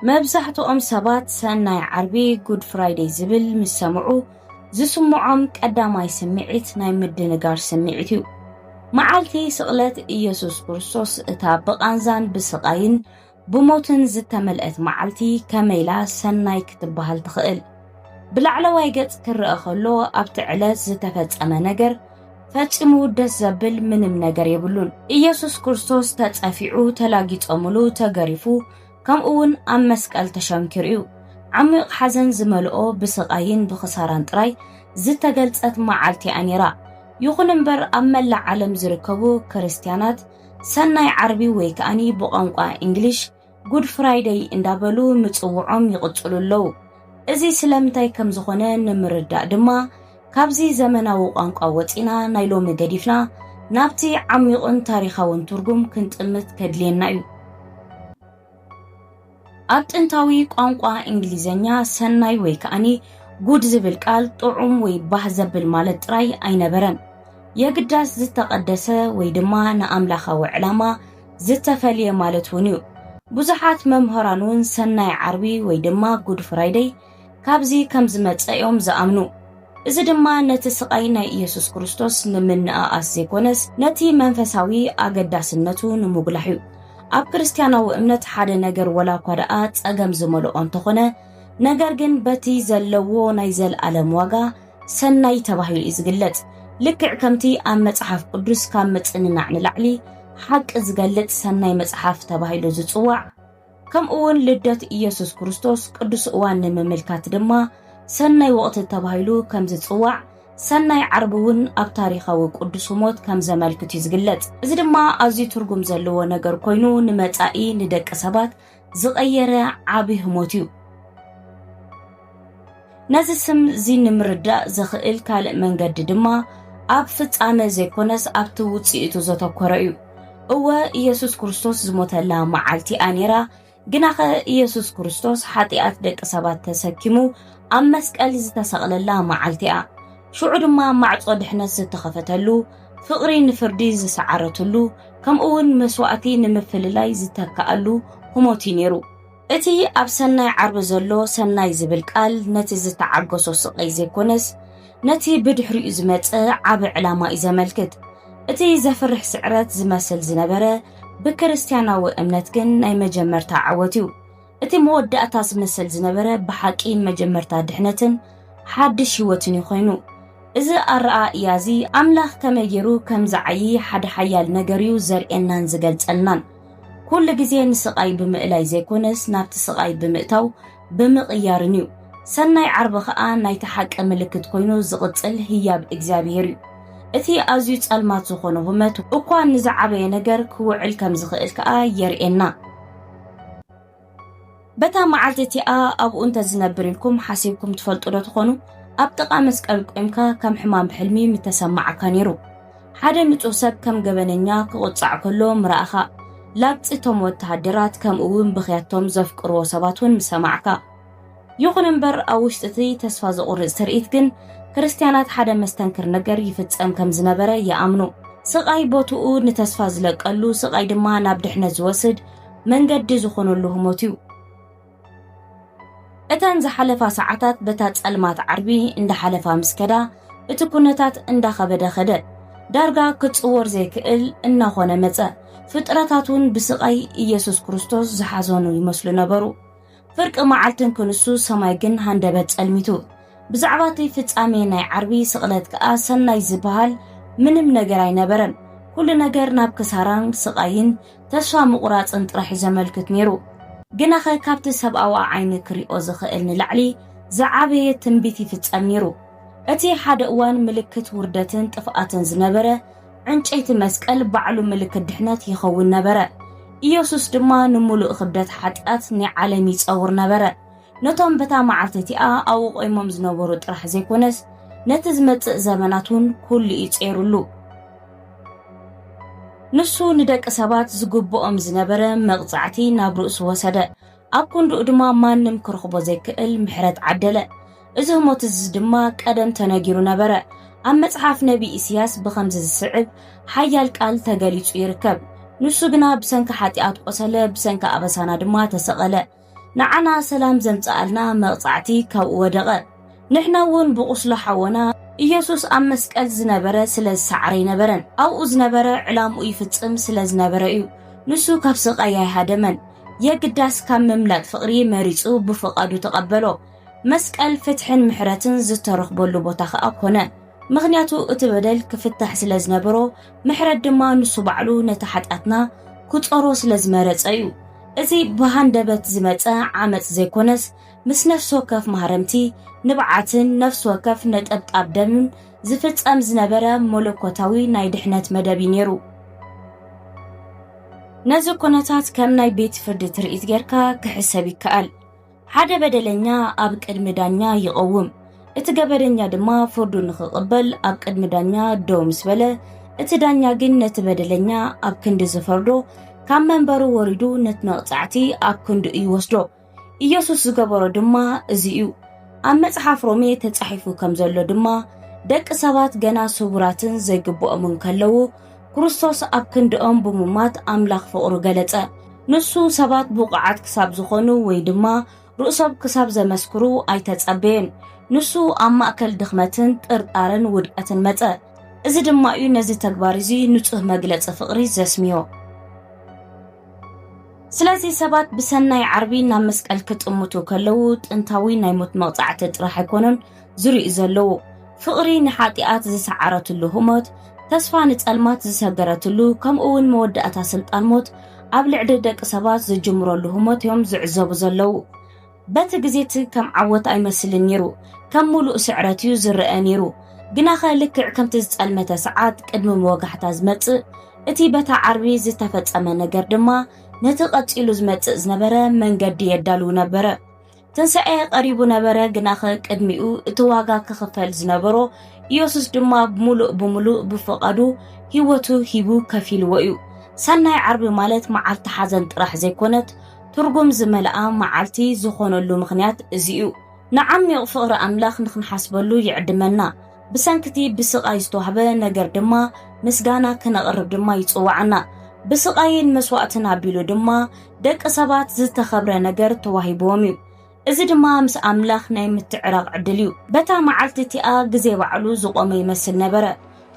መብዛሕትኦም ሰባት ሰናይ ዓርቢ፣ ጉድ ፍራይደይ፣ ዝብል ምስ ሰምዑ ዝስምዖም ቀዳማይ ስምዒት ናይ ምድንጋር ስምዒት እዩ። መዓልቲ ስቕለት ኢየሱስ ክርስቶስ እታ ብቓንዛን ብስቓይን ብሞትን ዝተመልአት መዓልቲ ከመይላ ሰናይ ክትበሃል ትኽእል? ብላዕለዋይ ገጽ ክረአ ከሎ ኣብቲ ዕለት ዝተፈጸመ ነገር ፈጺሙ ደስ ዘብል ምንም ነገር የብሉን። ኢየሱስ ክርስቶስ ተጸፊዑ፣ ተላጊጸሙሉ፣ ተገሪፉ፣ ከምኡውን ኣብ መስቀል ተሸንኪሩ እዩ። ዓሚቕ ሓዘን ዝመልኦ ብስቓይን ብኽሳራን ጥራይ ዝተገልጸት መዓልቲ እያ ነይራ። ይኹን እምበር ኣብ መላእ ዓለም ዝርከቡ ክርስትያናት ሰናይ ዓርቢ ወይ ከኣኒ ብቋንቋ ኢንግሊሽ Good Friday እንዳበሉ ምጽውዖም ይቕጽሉ ኣለዉ። እዚ ስለምንታይ ከም ዝኾነ ንምርዳእ ድማ ካብዚ ዘመናዊ ቋንቋ ወጺእና ናይ ሎሚ ገዲፍና ናብቲ ዓሚቑን ታሪኻውን ትርጉም ክንጥምት ከድልየና እዩ። ኣብ ጥንታዊ ቋንቋ እንግሊዘኛ ሰናይ ወይ ከኣኒ ጉድ ዝብል ቃል ጥዑም ወይ ባህ ዘብል ማለት ጥራይ ኣይነበረን። የግዳስ ዝተቐደሰ ወይ ድማ ንኣምላኻዊ ዕላማ ዝተፈልየ ማለት እውን እዩ። ብዙሓት መምህራን እውን ሰናይ ዓርቢ ወይ ድማ ጉድ ፍራይደይ ካብዚ ከም ዝመጸ እዮም ዝኣምኑ። እዚ ድማ ነቲ ስቓይ ናይ ኢየሱስ ክርስቶስ ንምንእኣስ ዘይኮነስ ነቲ መንፈሳዊ ኣገዳስነቱ ንምጕላሕ እዩ። ኣብ ክርስትያናዊ እምነት ሓደ ነገር ወላ እኳ ደኣ ጸገም ዝመልኦ እንተኾነ ነገር ግን በቲ ዘለዎ ናይ ዘልኣለም ዋጋ ሰናይ ተባሂሉ እዩ ዝግለጽ። ልክዕ ከምቲ ኣብ መጽሓፍ ቅዱስ ካብ ምጽንናዕ ንላዕሊ ሓቂ ዝገልጽ ሰናይ መጽሓፍ ተባሂሉ ዝጽዋዕ ከምኡውን ልደት ኢየሱስ ክርስቶስ ቅዱስ እዋን ንምምልካት ድማ ሰናይ ወቕቲ ተባሂሉ ከም ዝጽዋዕ ሰናይ ዓርቢ እውን ኣብ ታሪኻዊ ቅዱስ ሞት ከም ዘመልክት እዩ ዝግለጽ እዚ ድማ ኣዝዩ ትርጉም ዘለዎ ነገር ኮይኑ ንመጻኢ ንደቂ ሰባት ዝቐየረ ዓብይ ህሞት እዩ ነዚ ስም እዚ ንምርዳእ ዘኽእል ካልእ መንገዲ ድማ ኣብ ፍጻመ ዘይኮነስ ኣብቲ ውጽኢቱ ዘተኮረ እዩ እወ ኢየሱስ ክርስቶስ ዝሞተላ መዓልቲ እያ ነይራ ግናኸ ኢየሱስ ክርስቶስ ሓጢኣት ደቂ ሰባት ተሰኪሙ ኣብ መስቀል ዝተሰቕለላ መዓልቲ እያ ሽዑ ድማ ማዕጾ ድሕነት ዝተኸፈተሉ ፍቕሪ ንፍርዲ ዝሰዓረትሉ ከምኡ እውን መስዋእቲ ንምፍልላይ ዝተካኣሉ ህሞት እዩ ነይሩ እቲ ኣብ ሰናይ ዓርቢ ዘሎ ሰናይ ዝብል ቃል ነቲ ዝተዓገሶ ስቐይ ዘይኮነስ ነቲ ብድሕሪኡ ዝመጸ ዓቢ ዕላማ እዩ ዘመልክት። እቲ ዘፍርሕ ስዕረት ዝመስል ዝነበረ ብክርስትያናዊ እምነት ግን ናይ መጀመርታ ዓወት እዩ። እቲ መወዳእታ ዝመስል ዝነበረ ብሓቂ መጀመርታ ድሕነትን ሓድሽ ህይወትን እዩ ኮይኑ። እዚ ኣረኣእያ እዚ ኣምላኽ ከመይ ገይሩ ከም ዝዓዪ ሓደ ሓያል ነገር እዩ ዘርእየናን ዝገልጸልናን። ኩሉ ግዜ ንስቓይ ብምእላይ ዘይኮነስ ናብቲ ስቓይ ብምእታው ብምቕያርን እዩ። ሰናይ ዓርቢ ከኣ ናይቲ ሓቂ ምልክት ኮይኑ ዝቕጽል ህያብ እግዚኣብሄር እዩ። እቲ ኣዝዩ ጸልማት ዝኾነ ሁመት እኳ ንዝዓበየ ነገር ክውዕል ከም ዝኽእል ከኣ የርእየና። በታ መዓልቲ እቲኣ ኣብኡ እንተ ዝነብር ኢልኩም ሓሲብኩም ትፈልጡ ዶ ትኾኑ ኣብ ጥቓ መስቀል ቆምካ ከም ሕማም ብሕልሚ ምተሰማዓካ ነይሩ ሓደ ንጹህ ሰብ ከም ገበነኛ ክቑጻዕ ከሎ ምረኣኻ ላግጺ እቶም ወተሃደራት ከምኡ እውን ብኽያቶም ዘፍቅርዎ ሰባት እውን ምሰማዕካ ይኹን እምበር ኣብ ውሽጢ እቲ ተስፋ ዘቑርጽ ትርኢት ግን ክርስትያናት ሓደ መስተንክር ነገር ይፍጸም ከም ዝነበረ ይኣምኑ። ስቓይ ቦትኡ ንተስፋ ዝለቀሉ፣ ስቓይ ድማ ናብ ድሕነት ዝወስድ መንገዲ ዝኾነሉ ህሞት እዩ። እተን ዝሓለፋ ሰዓታት በታ ጸልማት ዓርቢ እንዳሓለፋ ምስ ከዳ እቲ ኩነታት እንዳኸበደ ከደ። ዳርጋ ክጽወር ዘይክእል እናኾነ መጸ። ፍጥረታት እውን ብስቓይ ኢየሱስ ክርስቶስ ዝሓዘኑ ይመስሉ ነበሩ። ፍርቂ መዓልትን ክንሱ ሰማይ ግን ሃንደበት ጸልሚቱ። ብዛዕባ እቲ ፍጻሜ ናይ ዓርቢ ስቕለት ከኣ ሰናይ ዝበሃል ምንም ነገር ኣይነበረን። ኩሉ ነገር ናብ ክሳራን ስቓይን ተስፋ ምቑራጽን ጥራሕ እዩ ዘመልክት ነይሩ። ግናኸ ካብቲ ሰብኣዊ ኣዓይኒ ክሪኦ ዝኽእል ንላዕሊ ዝዓበየ ትንቢት ይፍጸም ነይሩ። እቲ ሓደ እዋን ምልክት ውርደትን ጥፍኣትን ዝነበረ፣ ዕንጨይቲ መስቀል ባዕሉ ምልክት ድሕነት ይኸውን ነበረ። ኢየሱስ ድማ ንምሉእ ክብደት ሓጢኣት ናይ ዓለም ይጸውር ነበረ። ነቶም በታ መዓልቲ እቲኣ ኣብኡ ቆይሞም ዝነበሩ ጥራሕ ዘይኮነስ ነቲ ዝመጽእ ዘመናት እውን ኩሉ እዩ ጸይሩሉ። ንሱ ንደቂ ሰባት ዝግብኦም ዝነበረ መቕጻዕቲ ናብ ርእሱ ወሰደ። ኣብ ኮንዱኡ ድማ ማንም ክረኽቦ ዘይክእል ምሕረት ዓደለ። እዚ ህሞት እዚ ድማ ቀደም ተነጊሩ ነበረ። ኣብ መጽሓፍ ነቢይ ኢስያስ ብኸምዚ ዝስዕብ ሓያል ቃል ተገሊጹ ይርከብ። ንሱ ግና ብሰንኪ ሓጢኣት ቆሰለ፣ ብሰንኪ ኣበሳና ድማ ተሰቐለ። ንዓና ሰላም ዘምጽኣልና መቕጻዕቲ ካብኡ ወደቐ። ንሕና እውን ብቁስሉ ሓወና ኢየሱስ ኣብ መስቀል ዝነበረ ስለ ዝሰዓረ ኣይነበረን ኣብኡ ዝነበረ ዕላምኡ ይፍጽም ስለ ዝነበረ እዩ ንሱ ካብ ስቃይ ኣይሃደመን የግዳስ ካብ ምምላጥ ፍቅሪ መሪጹ ብፍቃዱ ተቀበሎ መስቀል ፍትሕን ምሕረትን ዝተረኽበሉ ቦታ ከኣ ኮነ ምክንያቱ እቲ በደል ክፍታሕ ስለ ዝነበሮ ምሕረት ድማ ንሱ ባዕሉ ነቲ ሓጢኣትና ክጾሮ ስለ ዝመረጸ እዩ እዚ ብሃንደበት ዝመጸ ዓመጽ ዘይኮነስ ምስ ነፍሲ ወከፍ ማህረምቲ ንብዓትን ነፍሲ ወከፍ ነጠብጣብ ደምን ዝፍጸም ዝነበረ መለኮታዊ ናይ ድሕነት መደብ እዩ ነይሩ። ነዚ ኩነታት ከም ናይ ቤት ፍርዲ ትርኢት ጌርካ ክሕሰብ ይከኣል። ሓደ በደለኛ ኣብ ቅድሚ ዳኛ ይቐውም፣ እቲ ገበነኛ ድማ ፍርዱ ንኽቕበል ኣብ ቅድሚ ዳኛ ደው ምስ በለ፣ እቲ ዳኛ ግን ነቲ በደለኛ ኣብ ክንዲ ዝፈርዶ ካብ መንበሩ ወሪዱ ነቲ መቕጻዕቲ ኣብ ክንድኡ ይወስዶ። ኢየሱስ ዝገበሮ ድማ እዚ እዩ። ኣብ መጽሓፍ ሮሜ ተጻሒፉ ከም ዘሎ ድማ ደቂ ሰባት ገና ስቡራትን ዘይግብኦምን ከለዉ ክርስቶስ ኣብ ክንድኦም ብምሟት ኣምላኽ ፍቕሩ ገለጸ። ንሱ ሰባት ብቑዓት ክሳብ ዝኾኑ ወይ ድማ ርእሶም ክሳብ ዘመስክሩ ኣይተጸበየን። ንሱ ኣብ ማእከል ድኽመትን ጥርጣረን ውድቀትን መጸ። እዚ ድማ እዩ ነዚ ተግባር እዚ ንጹህ መግለጺ ፍቕሪ ዘስምዮ። ስለዚ ሰባት ብሰናይ ዓርቢ ናብ መስቀል ክጥምቱ ከለዉ ጥንታዊ ናይ ሞት መቕጻዕቲ ጥራሕ ኣይኮኑን ዝርእዩ ዘለዉ ፍቕሪ ንሓጢኣት ዝሰዓረትሉ ህሞት ተስፋ ንጸልማት ዝሰገረትሉ ከምኡ እውን መወዳእታ ስልጣን ሞት ኣብ ልዕሊ ደቂ ሰባት ዝጅምረሉ ህሞት እዮም ዝዕዘቡ ዘለዉ በቲ ግዜ'ቲ ከም ዓወት ኣይመስልን ነይሩ፣ ከም ምሉእ ስዕረት'ዩ ዝረኣ ነይሩ። ግናኸ ልክዕ ከምቲ ዝጸልመተ ሰዓት ቅድሚ መወጋሕታ ዝመጽእ፣ እቲ በታ ዓርቢ ዝተፈጸመ ነገር ድማ ነቲ ቀጺሉ ዝመጽእ ዝነበረ መንገዲ የዳልው ነበረ። ትንሳኤ ቀሪቡ ነበረ፣ ግናኸ ቅድሚኡ እቲ ዋጋ ክኽፈል ዝነበሮ ኢየሱስ ድማ ብምሉእ ብምሉእ ብፍቓዱ ህይወቱ ሂቡ ከፊልዎ እዩ። ሰናይ ዓርቢ ማለት መዓልቲ ሓዘን ጥራሕ ዘይኮነት፣ ትርጉም ዝመልኣ መዓልቲ ዝኾነሉ ምኽንያት እዚ'ዩ። ንዓሚዩቕ ፍቕሪ ኣምላኽ ንኽንሓስበሉ ይዕድመና፣ ብሰንኪ'ቲ ብስቓይ ዝተዋህበ ነገር ድማ ምስጋና ክነቕርብ ድማ ይጽውዓና። ብስቓይን መስዋእትን ኣቢሉ ድማ ደቂ ሰባት ዝተኸብረ ነገር ተዋሂብዎም'ዩ። እዚ ድማ ምስ ኣምላኽ ናይ ምትዕራቕ ዕድል እዩ። በታ መዓልቲ እቲኣ ግዜ ባዕሉ ዝቖመ ይመስል ነበረ፣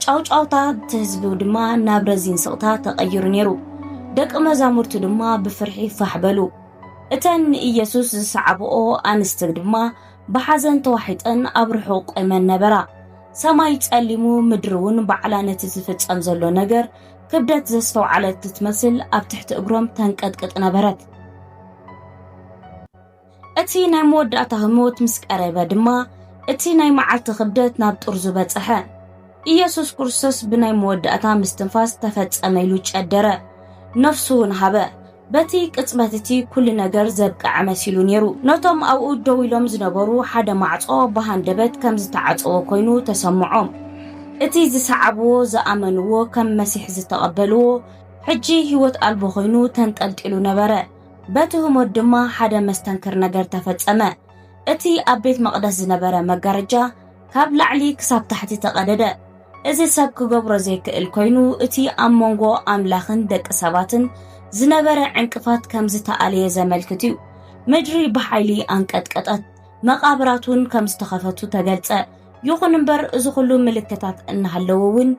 ጫውጫውታ እቲ ህዝቢ ድማ ናብ ረዚን ስቕታ ተቐይሩ ነይሩ። ደቂ መዛሙርቱ ድማ ብፍርሒ ፋሕ በሉ። እተን ንኢየሱስ ዝሰዓብኦ ኣንስቲ ድማ ብሓዘን ተዋሒጠን ኣብ ርሑቕ ቆይመን ነበራ። ሰማይ ጸሊሙ፣ ምድሪ እውን ባዕላ ነቲ ዝፍጸም ዘሎ ነገር ክብደት ዘስተውዓለት እትመስል ኣብ ትሕቲ እግሮም ተንቀጥቅጥ ነበረት። እቲ ናይ መወዳእታ ህሞት ምስ ቀረበ ድማ እቲ ናይ መዓልቲ ክብደት ናብ ጥርዙ በጽሐ። ኢየሱስ ክርስቶስ ብናይ መወዳእታ ምስትንፋስ ተፈጸመ ኢሉ ጨደረ፣ ነፍሱ እውን ሃበ። በቲ ቅጽበት እቲ ኩሉ ነገር ዘብቀዐ መሲሉ ነይሩ። ነቶም ኣብኡ ደው ኢሎም ዝነበሩ ሓደ ማዕጾ ብሃንደበት ከም ዝተዓጸወ ኮይኑ ተሰምዖም። እቲ ዝሰዓብዎ፣ ዝኣመንዎ፣ ከም መሲሕ ዝተቐበልዎ ሕጂ ህይወት ኣልቦ ኮይኑ ተንጠልጢሉ ነበረ። በቲ ህሞት ድማ ሓደ መስተንክር ነገር ተፈጸመ። እቲ ኣብ ቤት መቕደስ ዝነበረ መጋረጃ ካብ ላዕሊ ክሳብ ታሕቲ ተቐደደ። እዚ ሰብ ክገብሮ ዘይክእል ኮይኑ እቲ ኣብ መንጎ ኣምላኽን ደቂ ሰባትን ዝነበረ ዕንቅፋት ከም ዝተኣለየ ዘመልክት እዩ። ምድሪ ብሓይሊ ኣንቀጥቀጠት፣ መቓብራት እውን ከም ዝተኸፈቱ ተገልጸ። ይኹን እምበር እዚ ኩሉ ምልክታት እናሃለዎ እውን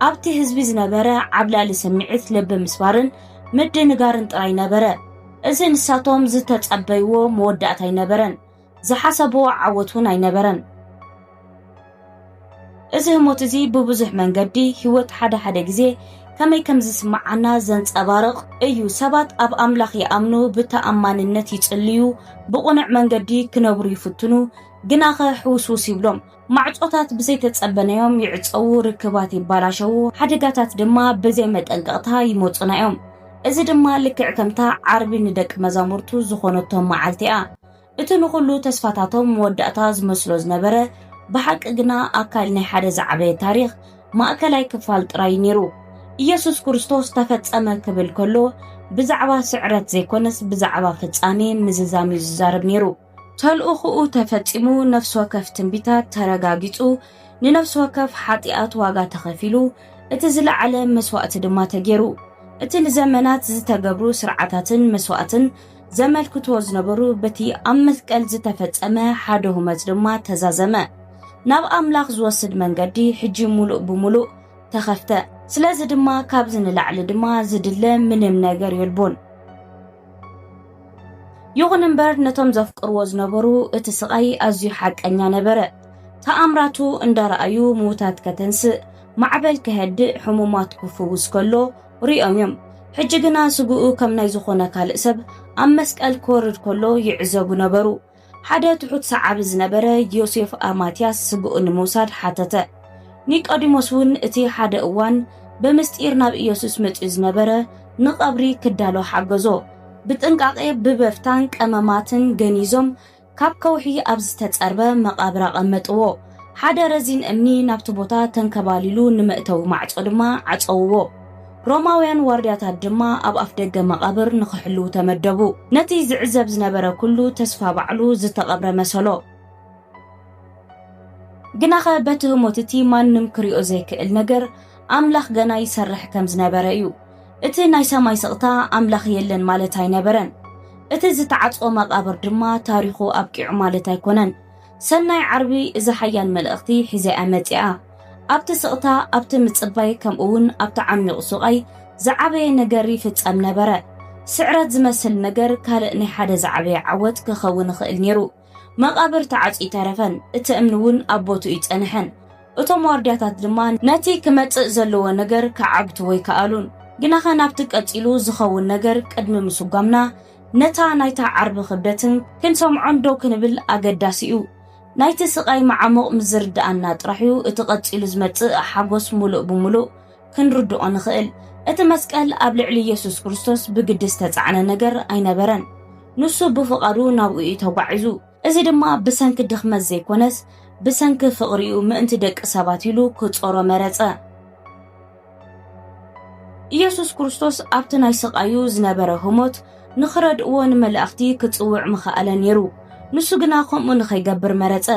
ኣብቲ ህዝቢ ዝነበረ ዓብላሊ ስምዒት ልቢ ምስባርን ምድንጋርን ጥራይ ነበረ። እዚ ንሳቶም ዝተጸበይዎ መወዳእታ ኣይነበረን። ዝሓሰብዎ ዓወት እውን ኣይነበረን። እዚ ህሞት እዚ ብብዙሕ መንገዲ ህይወት ሓደ ሓደ ግዜ ከመይ ከም ዝስምዓና ዘንጸባርቕ እዩ። ሰባት ኣብ ኣምላኽ ይኣምኑ፣ ብተኣማንነት ይጽልዩ፣ ብቕኑዕ መንገዲ ክነብሩ ይፍትኑ፣ ግናኸ ሕውስውስ ይብሎም። ማዕጾታት ብዘይተጸበናዮም ይዕጸዉ፣ ርክባት ይባላሸዉ፣ ሓደጋታት ድማ ብዘይ መጠንቀቕታ ይመጹና እዮም። እዚ ድማ ልክዕ ከምታ ዓርቢ ንደቂ መዛሙርቱ ዝኾነቶም መዓልቲ እያ። እቲ ንኹሉ ተስፋታቶም መወዳእታ ዝመስሎ ዝነበረ ብሓቂ ግና ኣካል ናይ ሓደ ዝዓበየ ታሪኽ ማእከላይ ክፋል ጥራይ ነይሩ ኢየሱስ ክርስቶስ ተፈጸመ ክብል ከሎ ብዛዕባ ስዕረት ዘይኮነስ ብዛዕባ ፍጻሜ ምዝዛም እዩ ዝዛረብ ነይሩ ተልእኹኡ ተፈጺሙ ነፍሲ ወከፍ ትንቢታት ተረጋጊጹ ንነፍሲ ወከፍ ሓጢኣት ዋጋ ተኸፊሉ እቲ ዝለዓለ መስዋእቲ ድማ ተገይሩ እቲ ንዘመናት ዝተገብሩ ስርዓታትን መስዋእትን ዘመልክትዎ ዝነበሩ በቲ ኣብ መስቀል ዝተፈጸመ ሓደ ሁመት ድማ ተዛዘመ። ናብ ኣምላኽ ዝወስድ መንገዲ ሕጂ ሙሉእ ብሙሉእ ተኸፍተ። ስለዚ ድማ ካብዚ ንላዕሊ ድማ ዝድለ ምንም ነገር የልቦን። ይኹን እምበር ነቶም ዘፍቅርዎ ዝነበሩ እቲ ስቓይ ኣዝዩ ሓቀኛ ነበረ። ተኣምራቱ እንዳረኣዩ ምዉታት ከተንስእ፣ ማዕበል ከሀድእ፣ ሕሙማት ክፍውስ ከሎ፣ ርእዮም እዮም። ሕጂ ግና ስግኡ ከም ናይ ዝኾነ ካልእ ሰብ ኣብ መስቀል ክወርድ ከሎ ይዕዘቡ ነበሩ። ሓደ ትሑት ሰዓቢ ዝነበረ ዮሴፍ ኣርማትያስ ስግኡ ንምውሳድ ሓተተ። ኒቆዲሞስ እውን እቲ ሓደ እዋን ብምስጢር ናብ ኢየሱስ መጺኡ ዝነበረ ንቐብሪ ክዳሎ ሓገዞ። ብጥንቃቄ ብበፍታን ቀመማትን ገኒዞም ካብ ከውሒ ኣብ ዝተጸርበ መቓብር ኣቐመጥዎ፣ ሓደ ረዚን እምኒ ናብቲ ቦታ ተንከባሊሉ ንመእተዊ ማዕጾ ድማ ዓጸውዎ። ሮማውያን ዋርድያታት ድማ ኣብ ኣፍደገ መቓብር ንኽሕልዉ ተመደቡ። ነቲ ዝዕዘብ ዝነበረ ኩሉ ተስፋ ባዕሉ ዝተቐብረ መሰሎ። ግናኸ በቲ ህሞት እቲ ማንም ክሪኦ ዘይክእል ነገር ኣምላኽ ገና ይሰርሕ ከም ዝነበረ እዩ። እቲ ናይ ሰማይ ስቕታ ኣምላኽ የለን ማለት ኣይነበረን። እቲ ዝተዓጽወ መቓብር ድማ ታሪኹ ኣብቂዑ ማለት ኣይኮነን። ሰናይ ዓርቢ እዚ ሓያል መልእኽቲ ሒዘያ መጺኣ። ኣብቲ ስቕታ፣ ኣብቲ ምጽባይ፣ ከምኡውን ኣብቲ ዓሚቕ ሱቓይ ዝዓበየ ነገር ይፍጸም ነበረ። ስዕረት ዝመስል ነገር ካልእ ናይ ሓደ ዝዓበየ ዓወት ክኸውን ይኽእል ነይሩ። መቓብር ተዓጽዩ ተረፈን፣ እቲ እምኒ እውን ኣብ ቦትኡ ጸንሐን። እቶም ዋርድያታት ድማ ነቲ ክመጽእ ዘለዎ ነገር ክዓግትዎ ኣይከኣሉን። ግናኸ ናብቲ ቀጺሉ ዝኸውን ነገር ቅድሚ ምስጓምና፣ ነታ ናይታ ዓርቢ ክብደትን ክንሰምዖን ደው ክንብል ኣገዳሲ እዩ። ናይቲ ስቓይ መዓሙቕ ምስ ዝርድኣና ጥራሕ እዩ እቲ ቀጺሉ ዝመጽእ ሓጎስ ምሉእ ብምሉእ ክንርድኦ ንኽእል። እቲ መስቀል ኣብ ልዕሊ ኢየሱስ ክርስቶስ ብግዲ ዝተጻዕነ ነገር ኣይነበረን። ንሱ ብፍቓዱ ናብኡ እዩ ተጓዒዙ። እዚ ድማ ብሰንኪ ድኽመት ዘይኮነስ ብሰንኪ ፍቕሪኡ ምእንቲ ደቂ ሰባት ኢሉ ክጾሮ መረጸ። ኢየሱስ ክርስቶስ ኣብቲ ናይ ስቓዩ ዝነበረ ህሞት ንኽረድእዎ ንመላእኽቲ ክጽውዕ ምኸኣለ ነይሩ። ንሱ ግና ከምኡ ንኸይገብር መረጸ።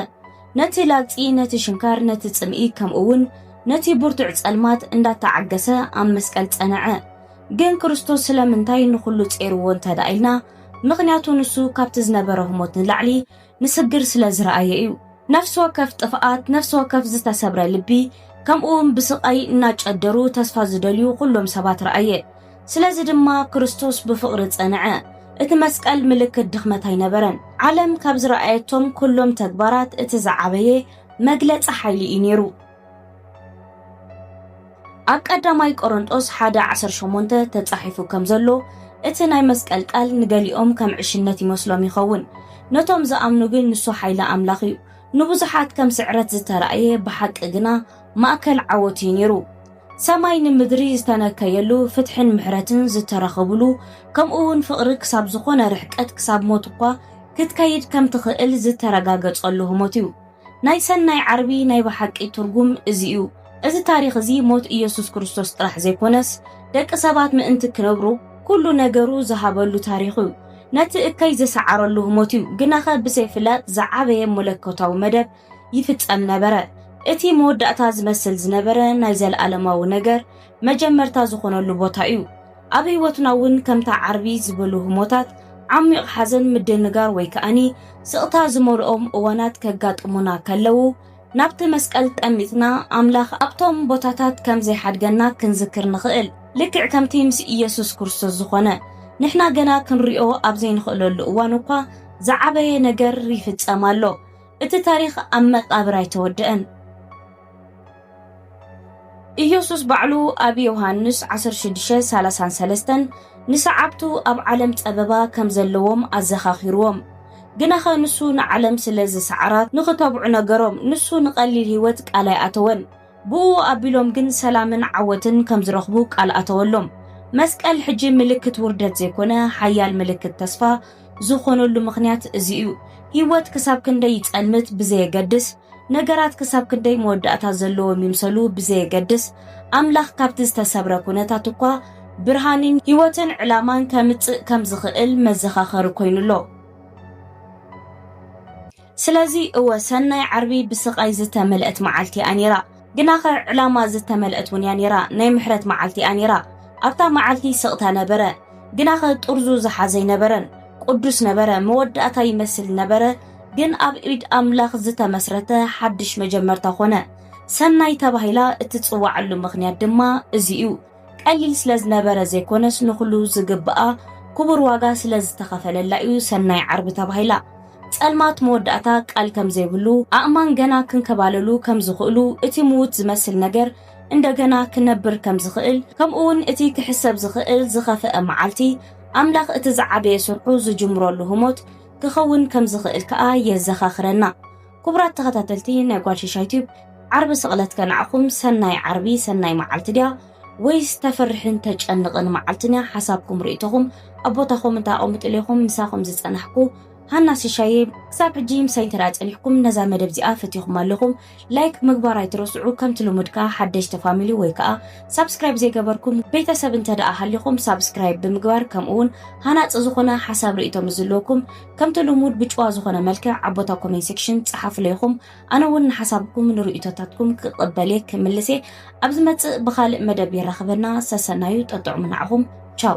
ነቲ ላግጺ፣ ነቲ ሽንካር፣ ነቲ ጽምኢ፣ ከምኡውን ነቲ ብርቱዕ ጸልማት እንዳተዓገሰ ኣብ መስቀል ጸነዐ። ግን ክርስቶስ ስለምንታይ ንኹሉ ጼርዎ እንተድኣ ኢልና፣ ምኽንያቱ ንሱ ካብቲ ዝነበሮ ህሞት ንላዕሊ ንስግር ስለ ዝረኣዮ እዩ። ነፍሲ ወከፍ ጥፍኣት፣ ነፍሲ ወከፍ ዝተሰብረ ልቢ፣ ከምኡውን ብስቓይ እናጨደሩ ተስፋ ዝደልዩ ኩሎም ሰባት ረኣየ። ስለዚ ድማ ክርስቶስ ብፍቕሪ ጸንዐ። እቲ መስቀል ምልክት ድኽመት ኣይነበረን። ዓለም ካብ ዝረኣየቶም ኩሎም ተግባራት እቲ ዝዓበየ መግለጺ ሓይሊ እዩ ነይሩ። ኣብ ቀዳማይ ቆሮንጦስ ሓደ ዓሰርተ ሸሞንተ ተጻሒፉ ከም ዘሎ እቲ ናይ መስቀል ቃል ንገሊኦም ከም ዕሽነት ይመስሎም ይኸውን ነቶም ዝኣምኑ ግን ንሱ ሓይሊ ኣምላኽ እዩ ንብዙሓት ከም ስዕረት ዝተራእየ ብሓቂ ግና ማእከል ዓወት እዩ ነይሩ ሰማይ ንምድሪ ዝተነከየሉ፣ ፍትሕን ምሕረትን ዝተረኸብሉ፣ ከምኡ'ውን ፍቕሪ ክሳብ ዝኾነ ርሕቀት፣ ክሳብ ሞት እኳ ክትከይድ ከም ትኽእል ዝተረጋገጸሉ ህሞት እዩ። ናይ ሰናይ ዓርቢ ናይ ብሓቂ ትርጉም እዚ እዩ። እዚ ታሪኽ እዚ ሞት ኢየሱስ ክርስቶስ ጥራሕ ዘይኮነስ፣ ደቂ ሰባት ምእንቲ ክነብሩ ኩሉ ነገሩ ዝሃበሉ ታሪኽ እዩ። ነቲ እከይ ዝሰዓረሉ ህሞት እዩ፣ ግናኸ ብዘይፍላጥ ዝዓበየ መለኮታዊ መደብ፣ ይፍጸም ነበረ። እቲ መወዳእታ ዝመስል ዝነበረ ናይ ዘለኣለማዊ ነገር መጀመርታ ዝኾነሉ ቦታ እዩ። ኣብ ህይወትና እውን ከምታ ዓርቢ ዝበሉ ህሞታት ዓሚቕ ሓዘን፣ ምድንጋር ወይ ከኣኒ ስቕታ ዝመልኦም እዋናት ከጋጥሙና ከለዉ ናብቲ መስቀል ጠሚትና ኣምላኽ ኣብቶም ቦታታት ከም ዘይሓድገና ክንዝክር ንኽእል። ልክዕ ከምቲ ምስ ኢየሱስ ክርስቶስ ዝኾነ፣ ንሕና ገና ክንሪኦ ኣብ ዘይንኽእለሉ እዋን እኳ ዝዓበየ ነገር ይፍጸም ኣሎ። እቲ ታሪኽ ኣብ መቃብር ኣይተወድእን። ኢየሱስ ባዕሉ ኣብ ዮሃንስ ዓሰርተ ሽዱሽተ ሰላሳን ሰለስተን ንሰዓብቱ ኣብ ዓለም ጸበባ ከም ዘለዎም ኣዘኻኺርዎም። ግናኸ ንሱ ንዓለም ስለ ዝሰዓራ ንኽተብዑ ነገሮም። ንሱ ንቀሊል ሕይወት ቃል ኣይኣተወን። ብኡ ኣቢሎም ግን ሰላምን ዓወትን ከም ዝረኽቡ ቃል ኣተወሎም። መስቀል ሕጂ ምልክት ውርደት ዘይኮነ ሓያል ምልክት ተስፋ ዝኾነሉ ምኽንያት እዚ እዩ። ህይወት ክሳብ ክንደይ ይጸልምት ብዘየገድስ፣ ነገራት ክሳብ ክንደይ መወዳእታ ዘለዎም ይምሰሉ ብዘየገድስ፣ ኣምላኽ ካብቲ ዝተሰብረ ኩነታት እኳ ብርሃንን ህይወትን ዕላማን ከምጽእ ከም ዝኽእል መዘኻኸሪ ኮይኑ ኣሎ። ስለዚ እወ ሰናይ ዓርቢ ብስቓይ ዝተመልእት መዓልቲ እያ ነይራ። ግናኸ ዕላማ ዝተመልእት እውን እያ ነይራ፣ ናይ ምሕረት መዓልቲ እያ ነይራ። ኣብታ መዓልቲ ስቕታ ነበረ፣ ግናኸ ጥርዙ ዝሓዘ ኣይነበረን። ቅዱስ ነበረ፣ መወዳእታ ይመስል ነበረ፣ ግን ኣብ ኢድ ኣምላኽ ዝተመስረተ ሓድሽ መጀመርታ ዀነ። ሰናይ ተባሂላ እትጽውዓሉ ምኽንያት ድማ እዚ እዩ። ቀሊል ስለ ዝነበረ ዘይኮነስ ንኹሉ ዝግብኣ ክቡር ዋጋ ስለ ዝተኸፈለላ እዩ ሰናይ ዓርቢ ተባሂላ። ጸልማት መወዳእታ ቃል ከም ዘይብሉ፣ ኣእማን ገና ክንከባለሉ ከም ዝኽእሉ፣ እቲ ምዉት ዝመስል ነገር እንደገና ክነብር ከም ዝኽእል፣ ከምኡውን እቲ ክሕሰብ ዝኽእል ዝኸፍኣ መዓልቲ ኣምላኽ እቲ ዝዓበየ ስርሑ ዝጅምረሉ ህሞት ክኸውን ከም ዝኽእል ከኣ የዘኻኽረና። ክቡራት ተኸታተልቲ ናይ ጓል ሽሻይ ቲዩብ ዓርቢ ስቕለት ከንዓኹም ሰናይ ዓርቢ ሰናይ መዓልቲ ድያ ወይስ ተፍርሕን ተጨንቕን መዓልትን እያ ሓሳብኩም ርእቶኹም ኣብ ቦታ ኮመንት ኣቐምጡሉ ኢኹም ምሳኹም ዝጸናሕኩ ሃና ሽሻየ ክሳብ ሕጂ ምሳይ እንተ ጸኒሕኩም ነዛ መደብ እዚኣ ፈቲኹም ኣለኹም ላይክ ምግባር ኣይትረስዑ ከምቲ ልሙድ ከኣ ሓደሽቲ ፋሚሊ ወይ ከኣ ሳብስክራይብ ዘይገበርኩም ቤተሰብ እንተ ደኣ ሃሊኹም ሳብስክራይብ ብምግባር ከምኡ እውን ሃናጺ ዝኾነ ሓሳብ ርእቶ ምስ ዝለኩም ከምቲ ልሙድ ብጭዋ ዝኾነ መልክዕ ኣብ ቦታ ኮሜንት ሴክሽን ጸሓፉለይ ኢኹም ኣነ እውን ንሓሳብኩም ንርእይቶታትኩም ክቕበልየ ክምልስ እየ ኣብ ዝመጽእ ብኻልእ መደብ የራኽበና ሰሰናዩ ጠጥዑሙ ንዓኹም ቻው